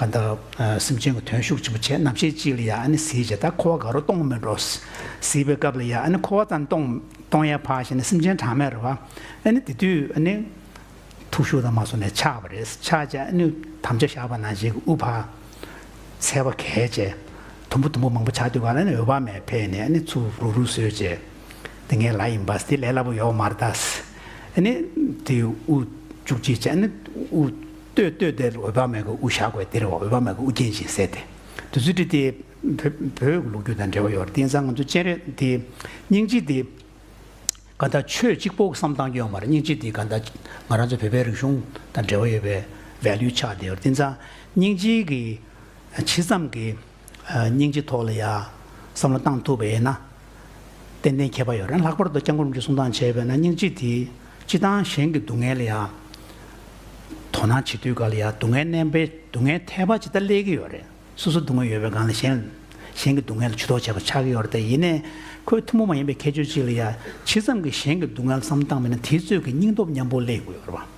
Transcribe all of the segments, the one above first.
གང་དག་སེམས་ཅན་གྱི་དོན་ཤུགས་ཆེན་པོ་བྱེད་རྣམས་ཤེས་ཅི་ལ་ཡ་ཨ་ནི་ཟིའི་བྱེད་ད་ཁོ་བ་དགའ་རོ་གཏོང་མི་འགྲོ། ཟིས་པའི་སྐབས་ལ་ཡ་ཨ་ནི་ཁོ་བ་ཙམ་གཏོང་གཏོང་ཡ་བ་ཞེ་ན་སེམས་ཅན་གྲངས་མེད་རོ་བ་ཨ་ནི་དེ་དུས་ཨ་ནི། ཐུགས་ཤུགས་དང་མ་སོ་ནས་ཆགས་པ་རེད་ཆགས་བྱས་ཨ་ནི་དམ་བཅའ་བཞག་པ་ན་བྱེད་ཀྱི་ཨུ་བ། འཚལ་བ་གས་བྱས། དུམ་བུ་དུམ་བུ་མང་པོ་ཆགས་དུས་བར་ཨ་ནི་འོད་བག་མེད་འཕེལ་ནས་ཨ་ནི་ཚུར་རུག་རུག་སོས་བྱས། འདི་ངའི་ལ་ཡིན་པ་འདི་ལས་སླ་པོ་ཡོག་མ་རེད་ད། ཨ་ནི་དེ་ཨུ་བཅུག་ཅིག་བྱས་ཨ་ནི་ཨུ། ལྟོས་ལྟོས་དེ་འོད་དཔག་མེད་ཀྱི་དབུ་བཞག་གོ་དེར་འོད་དཔག་མེད་ཀྱི་དབུ་རྒྱན་ཞེས་ཟེར་ཏེ། དེ་ཚུལ་ཁྲིམས་དེ། བོད་ཀྱི་ལོ་རྒྱུས་དང་འབྲེལ་བ་ཡོད་པར་བརྟེན་ས་ང་ཚོ་སྤྱན་རས་དེ། སྙིང་རྗེ་དེ། ག་ད་ཆོས་གཅིག་པོ་བསམ་བཏང་རྒྱུ་ཡང་མ་རེད་སྙིང་རྗེ་དེ་ག་ད་ང་རང་ཚོ་བོད་པའི་རིག་གཞུང་དང་འབྲེལ་བ་ཡོད་པའི Value ཆགས་དེ་ཡོད་པར་བརྟེན་ས་སྙིང་རྗེ་གི། ཇི་ཙམ་གྱི་སྙིང་རྗེ་ཐོག་ལ་ཡང་བསམ་བློ་བཏང་ཐུབ་པ་ཡིན་ན། ཏན་ཏན་ཁྱད་པར་ཡོད་རེད། ལྷག་པར་དུ་སྐྱབས་མགོན་རྒྱུད་གསུང་སྟངས་བྱས་པས་ན་སྙིང་རྗེ་དེས་སྤྱི་བཏང་གཞན་གྱི་སྡུག་བསྔལ་ལ་ཡང་དོ་སྣང་བྱེད་དུས་ག་ལ་ཡ་སྡུག་བསྔལ་བསྣན་པས་སྡུག་བསྔལ་ཐལ་བ་ཇི་ལྟར་སླེལ་གྱི་ཡོད་རེད། སོ་སོ་སྡུག་བསྔལ་ཡོད་པའི་སྒང་ལ་གཞན། གཞན་གྱི་སྡུག་བསྔལ་ལ་ཇུས་གཏོགས་བྱེད་པ་ཆགས་ཀྱི་ཡོད་རེད། ཡིན་ནའི། ཁོས་ཐུན་མོང་མ་ཡིན་པའི་ཁྱད་ཆོས་གཅིག་ལ་ཡ་ཇི་ཙམ་གྱིས་གཞན་གྱི་སྡུག་བསྔལ་ལ་བསམ་བློ་བཏང་མེད་ན་དེའི་ཚོད་ཀྱི་སྙིང་སྟོབས་ཉམས་པོ་སླེལ་དགོས་པ།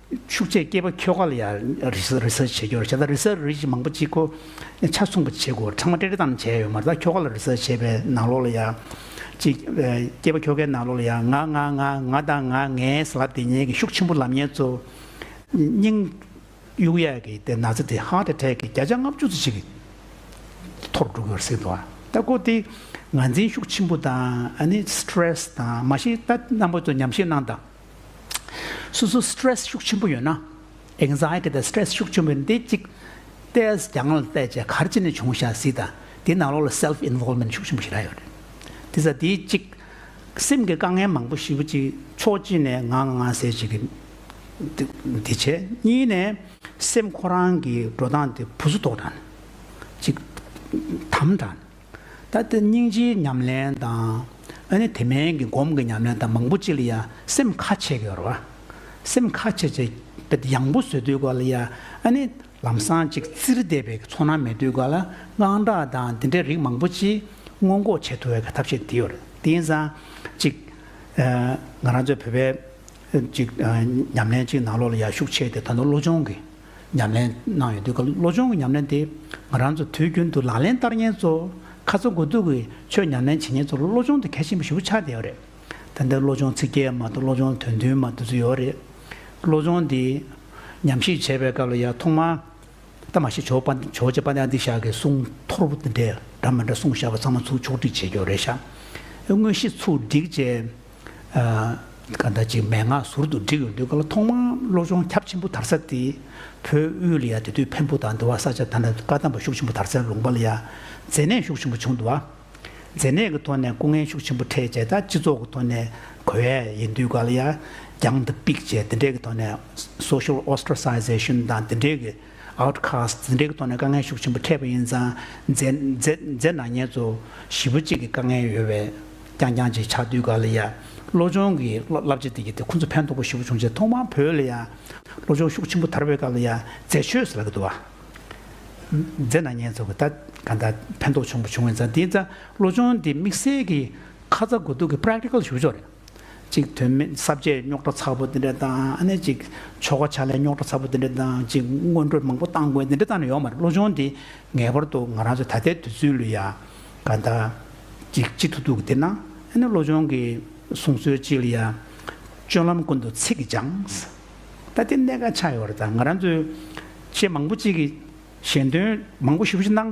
ཕྱུགས་ཆས་སྐྱེས་པ་ཁྱོ་ག་ལ་ཡང་རི་སར་བྱེད་རྒྱུ་རེད་བྱས་ཙང་རི་སར་རི་མང་པོ་གཅིག་གོ། ཆ་མཚུངས་པ་བྱེད་དགོས་ཚང་མ་སྤྲེལ་རི་ཙམ་བྱས་ཡོད་མ་རེད་ད་ཁྱོ་ག་ལ་རི་སར་བྱེད་པའི་ནང་ལོགས་ལ་ཡང། གཅིག་སྐྱེས་པ་ཁྱོ་གའི་ནང་ལོགས་ལ་ཡང་ང་ང་ང་ང་དང་ང་ངའི་ཟེར་ལབ་དེ་ཉལ་གི་ཤུགས་ཆེན་པོ་ལབ་ཉལ་ཚོ། སྙིང། གཡུག་ཡས་ཀྱི་དེ་ན་ཚ་དེ་ཧ་དེ་འཕྲད་ཀྱི་བརྒྱ་ཆ་ལྔ་བཅུ་ཚོ་ཞིག་གིས་ཐོར་འགྲོ་གི་རེད་ཟེར་དུ་ད་གོ་དེ། ངར་འཛིན་ཤུགས་ཆེན་པོ་དང་ཨ་ནི stress དང་མ་ཤེས་ད་རྣམ་པ་ཚོ་ཉམས་ཞིབ་གནང་དང། སོ་སོར Stress ཤུགས་ཆེན་པོ་ཡོད་ན། Anxiety དང Stress ཤུགས་ཆེན་པོ་ཡོད་ན་དེ་གཅིག་སྟེས་ཀྱང་ལ་བལྟས་བཅས་གར་ཅི་ནས་བྱུང་ཤ་ཟི་དང་དེའི་ནང་ལོགས་ལ Self Involvement ཤུགས་ཆེན་པོ་ཞིག་རག་ཡོད་རེད། དེ་ཚ་དེའི་གཅིག་སེམས་ཀྱི་དཀའ་ངལ་མང་པོ་ཞིབ་གཅིག་ཕྱོགས་གཅིག་ནས་ང་ང་ང་ཟེར་བྱེད་ཀྱི་དེ་བྱས་གཉིས་ནས་སེམས་ཁོ་རང་གི་འགྲོ་སྟངས་དེ་བུ་གཟུགས་ཐོག་དྲན་གཅིག་དམ་དྲན། ད་ལྟ་སྙིང་རྗེའི་ཉམས་ལེན་དང། ཨ་ནི་དེ་མན་གྱི་སྒོམ་གྱི་ཉམས་ལེན་དང་མང་པོ་ཅི་ལ་ཡ་སེམས་ཁ་ཆེ་གི་རོ། སེམས་ཁ་ཆེ་ཆེ་བེ་ད་ཡང་པོ་བཟོད་དུས་གོ་ལ་ཡ་ཨ་ནི་ལམ་སང་ཅིག་བཙིར་བསྡད་པའི་ཚོར་སྣང་མེད་དུས་གོ་ལ་དངངས་སྐྲག་དང་དེ་འདྲའི་རིགས་མང་པོ་ཅི་སྔོན་འགོག་བྱེད་ཐུ་བའི་ག་ཐབས་ཤིག་དེའོ་རེད་དེ་ཡིན་ཙང་ཅིག་ང་རང་ཚོའི་བོད་པའི་ཅིག་ཉམས་ལེན་ཅིག་ནང་ལོག་ལ་ཡ་ཤུགས་ཆེ་དེ་ད་དུང་བློ་སྦྱོང་གི། ཉམས་ལེན་གནང་ཡོད་འདུག་བློ་སྦྱོང་གི་ཉམས་ལེན་དེ་ང་རང་ཚོ་དུས་རྒྱུན་དུ་ལག་ལེན་བསྟར་ཉེན་ཚོ་ཁ་ཚ་དགོས་གཏུགས་ཀྱི་ཆོས་ཉམས་ལེན་བྱེད་ཉེན་ཚོ་བློ་སྦྱོང་དེ་གལ་ཆེན་པོ་ཞིག་པོ་ཆགས་བསྡད་ཡོད་རེད། ད་ལྟའི་བློ་སྦྱོང་ཚིག་བརྒྱད་མ་གཏོགས་བློ་སྦྱོང་དོན་བདུན་མ་གཏོགས་ཚུད་ཡོད་རེད། བློ་སྦྱོང་འདི་ཉམས་ཞིབ་བྱེད་པའི་སྐབས་ལ་ཡང་ཐོག་མར་ད་མ་ཤི་ཇོ་པ་ཇོ་རྗེ་པ་ཏའི་འདི་བཞག་གི་གསུང་ཐོར་བུ་འདི་འདྲ་འདྲ་མ་འདྲ་གསུང་བཞག་པ་ཚང་མ་ཚུར་ཕྱོགས་བསྒྲིགས་བྱས་ཀྱི་ཡོད་རེད་ཤག་དངོས་གཞི་ཚུར་བསྒྲིགས་བྱས། ཀ་ཟླ་གཅིག་མན་ངག་ཟུར་དུ་བསྒྲིགས་ཡོང་དུས་ཀ་ལ་ཐོག་མར་བློ་སྦྱོང་ཁྱབ་ཆེན་པོ་དར་ས་དེ་བོད་དབུས་ལ་ཡ་དེ་དུས་འཕན་པོ་དང་འདི་བ་ས་ཆ་ད་ནས་བཀའ་གདམས་པ་ཤུགས་ཆེན་པོ་དར་སའི་ལུང་པ་ལ་ཡ་མཛེ་ནད་ཤུགས་ཆེན་པོ་བྱུང་འདུག་བ་མཛེ་ནད་ཀྱི་ཐོག་ནས་སྐུ་ངལ་ཤུགས་ཆེན་པོ་འཕྲད་བྱས་ད་སྤྱི་ཚོགས་ཀྱི་ཐོག་ནས་གོ་ཡ་ཡིན་དུས་ཀ་ལ་ཡ་རྒྱང་ལྡབ་པིག་བྱས་དེ་འདྲས་ཀྱི་ཐོག་ནས Social Ostracization དང་དེ་འདྲས་ཀྱི། Outcast། འཛིན་གྲྭའི་ཐོག་ནས་དཀའ་ངལ་ཤུགས་ཆེན་པོ་འཕྲད་པ་ཡིན་ཙང། མཛེས། ནག་ཉེས་ཚོ། བཞི་པོ་གཅིག་གི་དཀའ་ངལ་ཡོད་བས། རྐྱང་རྐྱང་ཅིག་ཆགས་དུས་ག་ལ་ཡ། བློ་སྦྱོང་གི། བསླབ་བྱ་དེ་གྱིས་ཏེ་ཁོ་ཚོ་ཕན་ཐོགས་པ་བཞི་པོ་བྱུང་རྗེས་ཐོག་མར་བོད་ལ་ཡ། བློ་སྦྱོང་ཤུགས་ཆེན་པོ་དར་བས་ག་ལ་ཡ། མཛེས། ཆོས་སུ་ལ་གི་འདུག་བ། མཛེས། ནག་ཉེས་ཚོ་གི་ད། ག་ད། ཕན་ཐོགས་བྱུང་པ་བྱུང་བ་ཡིན་ཙང་དེ་ཙང། བློ་སྦྱོང་དེ་དམིགས་བསལ་གྱི། ཁ་ཚ་དགོས་གཏུགས་ཀྱི Practical ཞུ་བ་ཕྱོགས་རེད། ཅིག་དོན་མེད་གསར་བརྗེའི་རྙོག་དྲ་ཚ་པོ་འདི་འདྲ་དང་ཅིག་ཆོ་ག་ཕྱག་ལས་རྙོག་དྲ་ཚ་པོ་འདི་འདྲ་དང་ཅིག་སྔོན་འགྲོ་མང་པོ་བཏང་དགོས་འདི་འདྲ་བཏང་ནས་ཡོང་མ་རེད་བློ་སྦྱོང་འདི་ངེས་པར་དུ་ང་རང་ཚོའི་ད་ལྟའི་དུས་ཚོད་ལུས་ཡ་ག་ད་ཅིག་ཅི་ཐུག་ཐུག་གི་བསྡད་ན་ཨ་ནི་བློ་སྦྱོང་གི་གསུང་སྲོལ་ཅིག་ལ་ཡ། སྤྱོད་ལམ་ཀུན་ཏུ་ཚིག་གིས་སྦྱངས། ད་ལྟའི་གནད་འགག་ཆགས་ཡོད་པ་རེད་ད་ང་རང་ཚོའི་ཆེས་མང་པོ་ཅིག་གིས་གཞན་དོན་མང་པོ་ཞིབ་ཞིབ་གནང།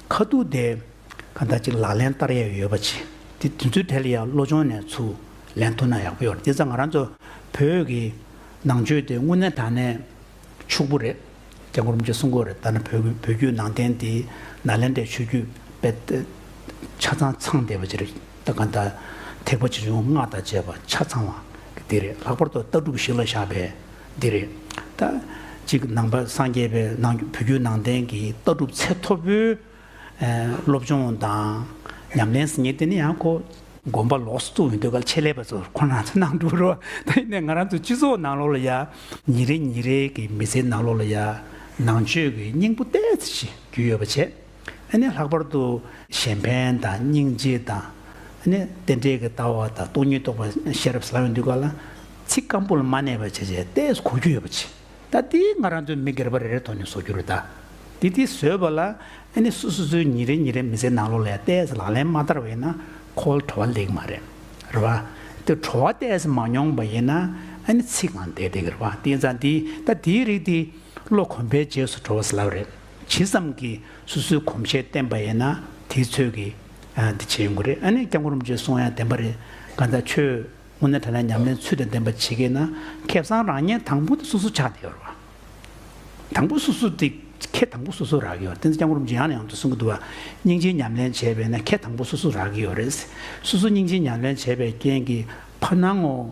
ཁ་ཐུག་དེ། གང་ལྟར་ཅིག་ལག་ལེན་བསྟར་ཡས་ཡོད་པ་བྱས། དེ་དུས་ཚོད་དལ་ཡག་བློ་ཆུང་ནས་ཚུར་ལན་ཐུག་ན་ཡག་པོ་ཡོད་རེད་དེ་ཚ་ང་རང་ཚོ་བོད་ཀྱི་ནང་ཆོས་དེ་དངོས་གནས་དྲང་གནས་ཕྱུག་པོ་རེད། རྒྱ་གོར་མི་ཚོས་གསུང་གོ་རེད་ད་ནི་བོད་ཀྱི་བོད་བརྒྱུད་ནང་བསྟན་དེ་ནཱ་ལེནྡྲའི་ཆོས་བརྒྱུད་དཔེ་དེབ་ཆ་ཚང་ཚང་བསྡད་པ་ཅི་རེད་ད་གང་ལྟར་ཐེག་པ་ཆེ་ཆུང་སྔགས་དང་བཅས་པ་ཆ་ཚང་བ་དེ་རེད་ལྷག་པར་དུ་ལྟ་གྲུབ་ཞིག་ལ་བཞག་པའི་འདི་རེད། ད། གཅིག་ནང་པ་སངས་རྒྱས་པའི་ནང་བོད་བརྒྱུད་ནང་བསྟན་གྱི་ལྟ་གྲུབ་ཚད་མཐོ་པོའི་སློབ་སྦྱོང་དང་ཉམས་ལེན་ཟེར་ཉེན་དེ་ནི་ཡང་ཁོ། དགོན་པ་ལོགས་སུ་བཙུགས་ཡོད་འདོད་ག་ལ་ཆེད་ལས་པ་ཚོ་ཁོ་རང་ཚོ་ནང་འགྲོ་རུ་ད་ཡིན་ནའི་ང་རང་ཚོ་སྤྱི་ཚོགས་ནང་ལོགས་ལ་ཡ། ཉིན་རེ་ཉིན་རེ་གི་མི་ཚེའི་ནང་ལོགས་ལ་ཡ། ནང་ཆོས་ཀྱི་སྙིང་པོ་གཏད་ཚེ་ཞིག་རྒྱུས་ཡོད་པ་བྱེད། ཨ་ནི་ལྷག་པར་དུ། གཞན་ཕན་དང་སྙིང་རྗེ་དང། ཨ་ནི་རྟེན་འབྲེལ་གྱི་ལྟ་བ་དང་སྟོང་ཉིད་རྟོགས་པ་ཤེས་རབ་སླ་བས་འདུས་པ་ལ། ཚིག་སྐམ་པོ་ལ་མ་གནས་པར་བྱས་བྱས་ཏེ་གོ་རྒྱུ་ཡོད་པ་ཅི། ད་ལྟའི་ང་རང་ཚོའི་མི་སྒེར་པ་རེ་རེ་ཐོག་ནས་བཟོ་རྒྱུ་རེ་ད། དེ་དེ་བཟོས་པ་ལ། ཨ་ནི་སུ་སུ་ཚོའི་ཉིན་རེ་ཉིན་རེ་མི་ཚེའི་ནང་ལོགས་ལ་ཡང་ལྟས་ལག་ལེན་མ་བསྟར་བ་ཡིན་ན་ཁོ་ལ་བྲོ་བ་ལེགས་མ་རེད། རེད་བ། དེ་བྲོ་བ་ལྟས་མ་མྱོང་པ་ཡིན་ན་ཨ་ནི་ཚིག་གང་བདེ་བདེ་གི་རེད་བ་དེ་ཙང་དེ་ད་དེའི་རིགས་དེ། ལོ་གོམས་པའི་རྗེས་སུ་བྲོ་བ་སླ་བ་རེད། ཇི་ཙམ་གྱིས་སོ་སོའི་གོམས་བཤད་བསྟན་པ་ཡིན་ན་དེའི་ཚོད་ཀྱིས་འདི་བྱེད་ཡོང་གི་རེད་ཨ་ནེ་སྐྱབས་མགོན་རིན་པོ་ཆེས་གསུང་ཡང་བདེན་པ་རེད་གང་ལྟར་ཁྱོད་དངོས་གནས་དྲན་ན་ཉམས་ལེན་ཚུལ་དང་ལྡན་པ་བྱེད་ཀྱི་ན་ཁེ་བཟང་རང་ཉན་དང་པོ་དེ་སོ་སོ་ཆགས་ཡོད་རེད་བ། དང་པོ་སོ་སོ་དེ་ཁེ་དང་པོ་སོ་སོ་རག་གི་ཡོད་རེད་བསྟན་འཛིན་སྐྱབས་མགོན་རིན་པོ་ཆེ་ཡང་ནས་ཡང་དུ་གསུང་གི་འདུག་བ་སྙིང་རྗེའི་ཉམས་ལེན་བྱས་པས་ན་ཁེ་དང་པོ་སོ་སོ་རག་གི་ཡོད་རེད། སོ་སོ་སྙིང་རྗེའི་ཉམས་ལེན་བྱས་པའི་རྐྱེན་གྱིས་ཕར་སྣང་ངོ།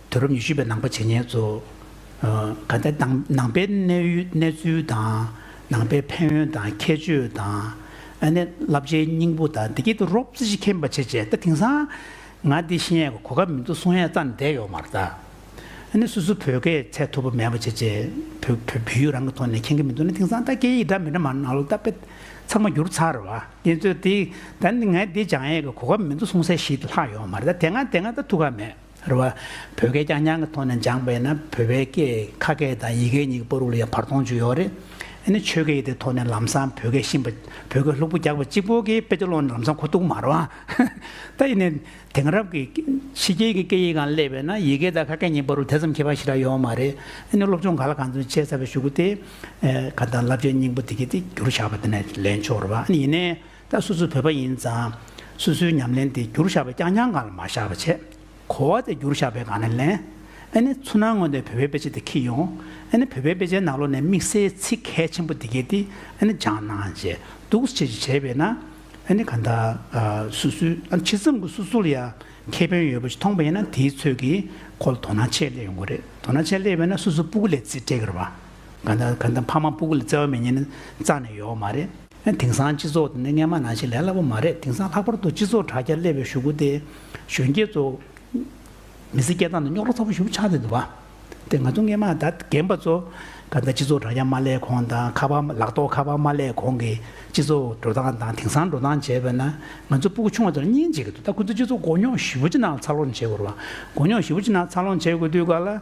དུས་རབས་ཉི་ཤུ་པའི་ནང་པ་བྱེས་ཉེས་འཛུགས། དགའ་ལྡན་ནང་པའི་གནས་ཚུལ་དང་ནང་པའི་ཕན་ཡོན་དང་ཁྱད་ཆོས་དང། ཨ་ནེ་བསླབ་བྱའི་སྙིང་པོ་དང་འདི་སྐད་དུ་རོབ་རྩེ་གཅིག་མཁྱེན་པ་བྱེད་ཅེས་ད་དེང་སང་ང་འདི་བཤད་ཡས་གོ་སྐབས་མི་འདུག་གསུང་ཡས་རྩ་ནས་བསྡད་ཡོད་མ་རེད་ད། ཨ་ནེ་སུ་སུ་བོད་སྐད་ཚད་ཐུབ་པ་མེད་པ་བྱེད་ཅེས་བོད་ཡིག་རང་གི་ཐོག་ནས་མཁྱེན་གྱི་མི་འདུག་ན་དེང་སང་ད་སྐད་ཡིག་འདྲ་མི་འདྲ་མ་ནང་ལོ་ད་དཔེ་ཚགས་མ་འགྱུར་ཚར་བ་དེ་ཚོས་དེ་ད་ནི་ང་འདི་སྦྱང་ཡས་གོ་སྐབས་མི་འདུག་གསུང་སའི་གཞི་ལྷག་ཡོད་མ་རེད་ད་དེ་སྔ་དེ་སྔ་ད་ཐུགས་ཁག་མེད། རེད་བ། བོད་སྐད་རྐྱང་རྐྱང་གི་ཐོག་ནས་སྦྱངས་པས་ན་བོད་པའི་སྐད་ཁ་སྐད་དང་ཡི་གེ་གཉིས་ཀྱི་སྤོ་རུག་ལ་ཡང་བར་སྟོང་བྱུང་ཡོད་རེད། དེ་ནི་ཆོས་སྐད་ཡིག་དེའི་ཐོག་ནས་ལམ་སང་བོད་སྐད་ཤེས་པ་བོད་སྐད་ལྷུག་པོ་རྒྱག་པ་གཅིག་པོ་གིས་དཔེ་ཆ་ཀློག་ནས་ལམ་སང་གོ་ཐུག་མ་རེད་བ། ད་ཡིན་ནའི་དེང་རབས་ཀྱི་ཕྱི་རྒྱལ་གྱི་སྐད་ཡིག་གང་སླེབས་པས་ན་ཡི་གེ་དང་ཁ་སྐད་གཉིས་སྤོ་རུག་དེ་ཙམ་མཁས་པ་ཞིག་ལ་ཡོད་མ་རེད། དེ་ནི་སློབ་སྦྱོང་ག་ལ་གང་འཚམ་བྱས་ཚར་བའི་ཞུ་སྒོ་སྟེ། གང་ལྟར་བསླབ་བྱའི་སྙིང་པོ་དེ་གའི་ཐིག་རྒྱུར་བཞག་པ་དེ་ནས་ལེན་ཆོག་རེད་བ། ཡིན་ནའི། ད་སུ་སུ་བོད་པ་ཡིན་ཙང། སུ་སུའི་ཉམས་ལེན་དེ་བསྒྱུར་བཞག་པའི་རྐྱང་རྐྱང་སྒང་ལ་མ་བཞག་པ་བྱེད། གོ་བ་དེ་བསྒྱུར་བཞག་པའི་སྒང་ནས་ལེན། ཨ་ནི་ཚུར་སྣང་སྔོན་ཐོན་བོད་པའི་དཔེ་ཆ་དེ་འཁྱིལ་ཡོང། ཨ་ནི་བོད་པའི་དཔེ་ཆའི་ནང་ལོགས་ནས་དམིགས་བསལ་ཚིག་གལ་ཆེན་པོ་འདི་གལ་ཏེ་ཨ་ནི་སྦྱངས་ན་ཨང་ཅེས་སྡུག་བསུ་བྱེད་ཅེས་བྱས་པས་ན། ཨ་ནི་གང་ལྟར། སུ་སུ། ཨ་ནི་ཕྱི་མཚམས་ཀྱི་སུ་སུ་ལ་ཡང་ཁེ་ཕན་ཡོད་པ་ཞིག་མཐོང་པ་ཡིན་ན་དེའི་ཚོད་ཀྱིས་ཁོ་ལ་དོ་སྣང་ཆེད་སླེབས་ཡོང་གི་རེད། དོ་སྣང་ཆེད་སླེབས་པས་ན་སུ་སུ་སྤུ་གུ་ལས་བརྩེ་བྲལ་གི་རེད་བ། གང་ལྟར་གང་ལྟར་ཕ་མ་སྤུ་གུ་ལ་བརྩེ་བ་མེད་ཉེན་ནི་རྩ་ནས་ཡོད་མ་རེད། དེང་སང་སྤྱི་ཚོགས་འདི་ནི་རྔན་མ་ནང་བཞིན་ལས་སླ་པོ་མ་རེད་དེང་སང་ལྷག་པར་དུ་སྤྱི་ཚོགས་དྲ་རྒྱར་སླེབས་པའི་ཞུ་སྒོ་སྟེ། གཞོན་སྐྱེས་ཚོ། མི་ཚེ་སྐྱེལ་སྟངས་འདི་རྙོག་དྲ་ཚ་པོ་ཞུགས་ཆགས་ནས་འདུག་བ། དེ་ང་ཚོ་རྔན་མ་དང་རྒན་པ་ཚོ། ད་ལྟ་སྤྱི་ཚོགས་དྲ་རྒྱ་མ་སླེབས་གོང་དང་ཁ་པར་ལག་ཐོག་ཁ་པར་མ་སླེབས་གོང་གི་སྤྱི་ཚོགས་འགྲོ་སྟངས་དང་དེང་སང་འགྲོ་སྟངས་བྱས་པ་ན། ང་ཚོ་སྤུ་གུ་ཆུང་བ་ཚོ་ལ་སྙིང་རྗེ་གི་འདུག་ད་ཁོ་ཚོ་སྤྱི་ཚོགས་མགོ་རྙོག་ཞི་བོ་ཅི་ནང་ལ་འཚར་ལོངས་བྱེད་དགོས་རུང་བ། མགོ་རྙོག་ཞི་བོ་ཅི་ནང་ལ་འཚར་ལོངས་བྱེད་དགོས་དུས་སྐབས་ལ།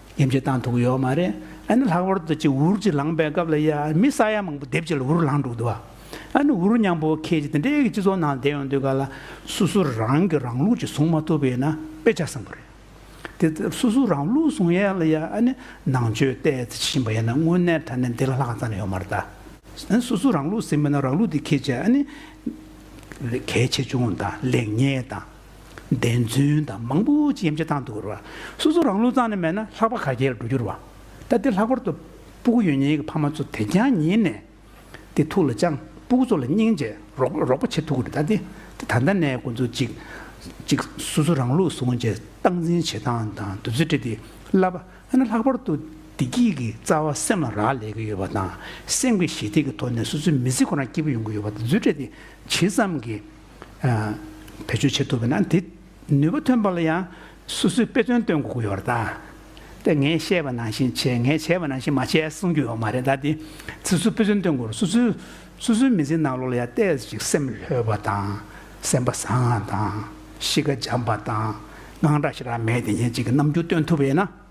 ཡེམ་ཆེ་བཏང་ཐུག་གི་ཡོད་མ་རེད་ཨ་ནི་ལྷག་པར་དུ་ཅིག་འུར་ཅིག་ལངས་པའི་སྐབས་ལ་ཡ་མི་ས་ཡ་མང་པོ་སྡེབ་ཅིག་ལ་འུར་ལངས་འགྲོ་གི་འདུག་བ་ཨ་ནི་འུར་ཉམས་པོ་ཁྱེད་ཀྱི་དེ་འདྲའི་སྤྱི་ཚོགས་ནང་བསྡད་ཡོང་དུས་ག་ལ་སུ་སུ་རང་གི་རང་ལུགས་ཅིག་བཟུང་མ་ཐུབ་པ་ཡིན་ན་དཔེ་ཆ་བཟང་པོ་རེད་དེ་ལྟར་སུ་སུ་རང་ལུགས་བཟུང་ཡས་ལ་ཡ་ཨ་ནི་ནང་ཆོས་ལྟས་ཙི་བྱེད་བཞིན་པ་ཡིན་ན་དངོས་གནས་དྲ་གནས་འདི་ལ་ལྷག་ཙམ་ཡོད་མ་རེད་ད་ཨ་ནི་སུ་སུ་རང་ལུགས་ཟེར་མིན་ན་རང་ལུགས་དེ་ཁྱེད་ཀྱི་ཨ་ནི་གལ་ཆེ་ཆུང་དང་ལེགས་ཉེས་དང། བདེན་རྫུན་དང་མང་པོ་ཅི་ཡམ་ཆད་བཏང་འདུག་ར་བ། སོ་སོ་རང་ལུས་གཙང་ནས་མེད་ན་ལྷག་པ་ག་གེར་འགྲོ་རྒྱུར་བ། ད་འདིར་ལྷག་པར་དུ། སྤུ་གུ་ཡོད་ཉེས་ཀྱི་ཕ་མ་ཚོ་དེ་རྒྱང་ཉིད་ནས། འདི་ཐུགས་ལ་བཅངས། སྤུ་གུ་ཚོ་ལ་སྙིང་རྗེ། རོགས་པ་བྱེད་ཐུབ་ཀྱི་རེད་ད། ད་ལྟ་ནས་ཁོང་ཚོ་གཅིག། གཅིག། སོ་སོ་རང་ལུས་བཟུང་རྗེས་སྟངས་འཛིན་བྱེད་སྟངས་དང་འདུ་འཛི་སྤྲད་དེ་བསླབ། ཨ་ན་ལྷག་པར་དུ། བདེ་སྐྱིད་ཀྱི་རྩ་བ་སེམས་ལ་རག་ལས་ཀྱི་ཡོད་པ་དང། སེམས་ཀྱི་ཞི་བདེ་ཀྱི་ཐོག་ནས་སོ་སོའི་མི་ཚེ་ཁོ་རང་སྐྱིད་པོ་ཡོང་གི་ཡོད་པ་འདུ་འཛི་སྤྲད་དེ། ཇི་ཙམ་གྱིས། བེད་སྤྱོད་བྱེད་ཐུབ་པས་ན་དེ་ནུས་པ་ཐོན་པ་ལ་ཡང་སོ་སོས་དཔེ་མཚོན་སྟོན་དགོས་ཀྱི་ཡོད་རེད་ད། ངས་བཤད་པ་ནང་བཞིན་བྱས་ངས་བྱས་པ་ནང་བཞིན་མ་བྱས་གསུང་རྒྱུ་ཡོད་མ་རེད་ད། དེ་སོ་སོས་དཔེ་མཚོན་སྟོན་དགོས་རུང་སོ་སོས་སོ་སོའི་མི་ཚེའི་ནང་ལོགས་ལ་ཡང་བལྟས་ཚེ་ཅིག་སེམས་ལྷོད་པ་དང་སེམས་པ་བཟང་བ་དང་གཤིས་ཀ་འཇམ་པ་དང་དངངས་སྐྲག་ཞིག་རག་མེད་དེ་ཉིད་ཅིག་གི་རྣམ་འགྱུར་སྟོན་ཐུབ་པས་ན།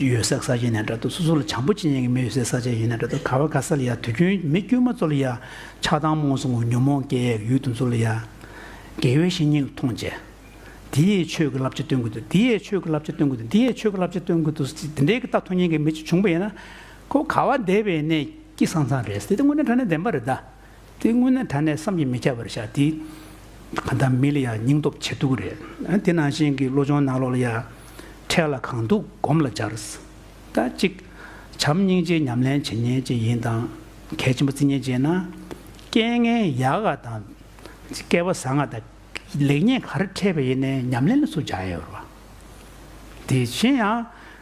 ཡོད་སའི་ས་ཆ་ནས་འདྲ་འདུག་སོ་སོ་ལ་བྱང་བུ་ཅི་ཡིན་གྱི་མི་ཡོད་སའི་ས་ཆ་ཡིན་ན་འདྲ་འདུག་ག་བ་ག་ས་ལ་ཡང་དུས་རྒྱུན་མི་དཀྱུས་མ་གཙོ་ལ་ཡང་ཆགས་སྡང་རྨོངས་སོང་ངོ་ཉོན་མོངས་སྐྱེ་ཡས་ཡུལ་དུ་འཛུལ་ལ་ཡང། དགེ་བའི་བཤེས་གཉེན་ལ་མཐོང་བྱས། འདི་ཡས་ཆོས་ཀྱི་བསླབ་བྱ་སྟོན་དགོས་འདུག་འདི་ཡས་ཆོས་ཀྱི་བསླབ་བྱ་སྟོན་དགོས་འདུག་འདི་ཡས་ཆོས་ཀྱི་བསླབ་བྱ་སྟོན་དགོས་འདུག་ཟེར་དེ་འདྲའི་རྟགས་མཐོང་ཉན་གྱི་མི་ཅིག་བྱུང་བ་ཡིན་ན། ཁོ་བོ་ག་བ་འདས་པའི་གནས་ཀྱི་སང་སང་རེད་ཟེར་དེ་དེ་དངོས་གནས་དྲན་ནས་བདེན་པ་རེད་ད། དེ་སྔོན་ནས་ད་ནས་བསམ་གྱིས་མི་ཁྱབ་པར་བཞག་སྟེ། གང་ལྟར་མི་ལ་ཡང་སྙིང་སྟོབས་ཆེ་སྡུག་གི་རེད། དེ་ནང་བཞིན་གྱི་བློ་སྦྱོང་གནང་ལོག་ལ་ཡ། འཕྲལ་ལ་གང་འདུག་སྒོམ་ལ་སྦྱར། ད་ཅིག། བྱམས་སྙིང་རྗེའི་ཉམས་ལེན་བྱེད་ཉེན་ཅན་ཡིན་དང། གལ་ཆེན་པོ་བརྩི་ཉེན་ཅན་ན། རྐྱེན་ངན་ཡག་ག་དང། བསྐལ་པ་བཟང་ང་དང། ལེགས་ཉེས་ག་རེ་འཕྲད་པའི་ཡེ་ནས་ཉམས་ལེན་ལ་སུ་བྱ་ཡོད་རེད་བ། དེ་བཞིན་ཡང།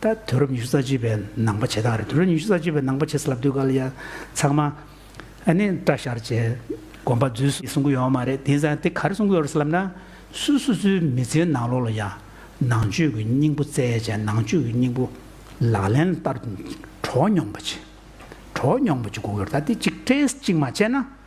ད་དུས་རབས་ཉི་ཤུ་རྩ་གཅིག་པའི་ནང་པ་བྱེད་སྟངས་རེད་དུས་རབས་ཉི་ཤུ་རྩ་གཅིག་པའི་ནང་པ་བྱེད་ས་ལབ་དུས་ག་ལ་ཡ། ཚང་མ། ཨ་ནི་བཀྲ་ཤར་རྗེས་དགོན་པ་རྫུས་སོང་གསུང་གི་ཡོད་མ་རེད་དེ་ས་དེ་ག་རེ་གསུང་གི་ཡོད་རེད་ལབ་ན། སུ་སུ་ཚོའི་མི་ཚེའི་ནང་ལོགས་ལ་ཡ། ནང་ཆོས་ཀྱི་སྙིང་པོ་རྩལ་ཅན་ནང་ཆོས་ཀྱི་སྙིང་པོ། ལག་ལེན་བསྟར། གྲོགས་མྱོང་པ་བྱེད། གྲོགས་མྱོང་པ་བྱེད་དགོས་ཀྱི་རེད་ད་དེ་གཅིག་སྤྲེལ་གཅིག་མ་བྱས་ན།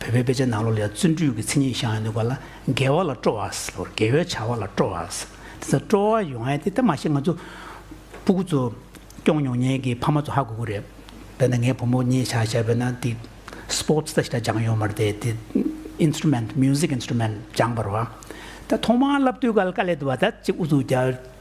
བོད་པའི་དཔེ་ཆའི་ནང་ལོ་ལེགས་བརྩོན་འགྲུས་ཀྱི་མཚན་ཉིད་ཞང་ཡང་ནུས་པ་ལ་རྒྱལ་བ་ལ་སྤྲོ་བ་ཟེར་རྒྱལ་བའི་བྱ་བ་ལ་སྤྲོ་བ་ཟེར་དེ་ཚོ་སྤྲོ་བ་ཡོང་ཨེ་དེ་ད་མ་ཤེས་ང་ཚོ་སྤུ་གུ་ཚོ་སྐྱོང་མྱོང་ཉེན་གྱི་ཕ་མ་ཚོ་ཧ་གོ་གོ་རེད་དཔེར་ན་ངའི་བུ་མོ་གཉིས་ཆ་བཞག་པས་ན་དེ Sports ད་ཞིག་ད་སྦྱང་ཡོང་མ་རེད་དེ་དེ Instrument Music Instrument སྦྱང་པར་བ་ད་ཐོག་མར་བསླབ་དུས་ཀ་ལ་ཀ་ལས་དུ་བ་ད་ཅིག་ཨུ་ཚུགས་རྒྱག་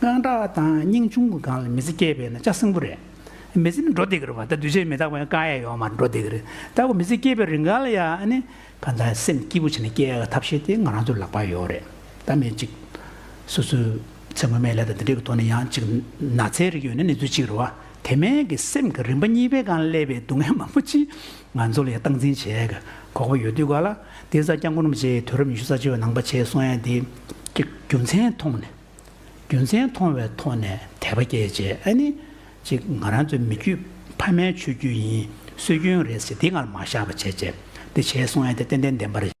དངངས་སྐྲག་དང་སྙིང་ཆུང་གི་སྒང་ལ་མི་ཚེ་བསྐྱལ་པས་ན་ལྕགས་སྲིན་པོ་རེད། མི་ཚེ་ནི་འགྲོ་བདེ་གི་རེད་བ་ད་འདུས་བྱས་མི་རྟག་པ་ཡང་དཀའ་ཡས་ཡོང་བ་མ་འགྲོ་བདེ་གི་རེད་ད་བུ་མི་ཚེ་བསྐྱལ་པའི་རིང་ག་ལ་ཡང་ནི། གང་ལྟར་སེམས་སྐྱིད་པོ་བྱས་ནས་བསྐྱལ་ཡག་གི་ཐབས་ཤེས་དེ་ང་རང་ཚོའི་ལག་པར་ཡོད་རེད་ད། མི་གཅིག་སོ་སོའི་ཚེ་སྔོན་མའི་ལས་དང་དེ་འབྲེལ་གྱི་ཐོག་ནས་ཡང་གཅིག་ན་ཚའི་རིགས་ཡོད་ན་ནི་ཚོད་གཅིག་རེད་བ། དེ་མན་གྱི་སེམས་ཀྱི་རིམ་པ་གཉིས་པའི་སྒང་ལ་སླེབས་པའི་སྡུག་བསྔལ་མང་པོ་ཅི། ང་ཚོ་ལ་ཡང་སྟངས་འཛིན་བྱེད་ཡག་གི་ཁོག་པ་ཡོད་དུས་ག་ལ། འདི་ཚ་རྐྱང་གོར་མོ་བྱས་དུས་རབས་ཉི་ཤུ་རྩ་གཅིག་པའི་ནང་པ་བྱས་སོང་ཡང་དེ་ཀྱི་རྒྱུ་མཚན་མཐོང་ནས་རྒྱུ་མཚན་མཐོང་བའི་ཐོག་ནས་དད་པ་སྐྱེད་བྱས་ཨ་ནི་ཅིག་ང་རང་ཚོའི་མི་རྒྱུད་ཕ་མའི་ཆོས་རྒྱུད་ཡིན་སྲོལ་རྒྱུན་རེད་ཟེར་དེ་སྔར་མ་བཞག་པ་བྱས་བྱས་འདི་བྱས་སོང་ཡང་དེ་ཏན་ཏན་བདེན་པར།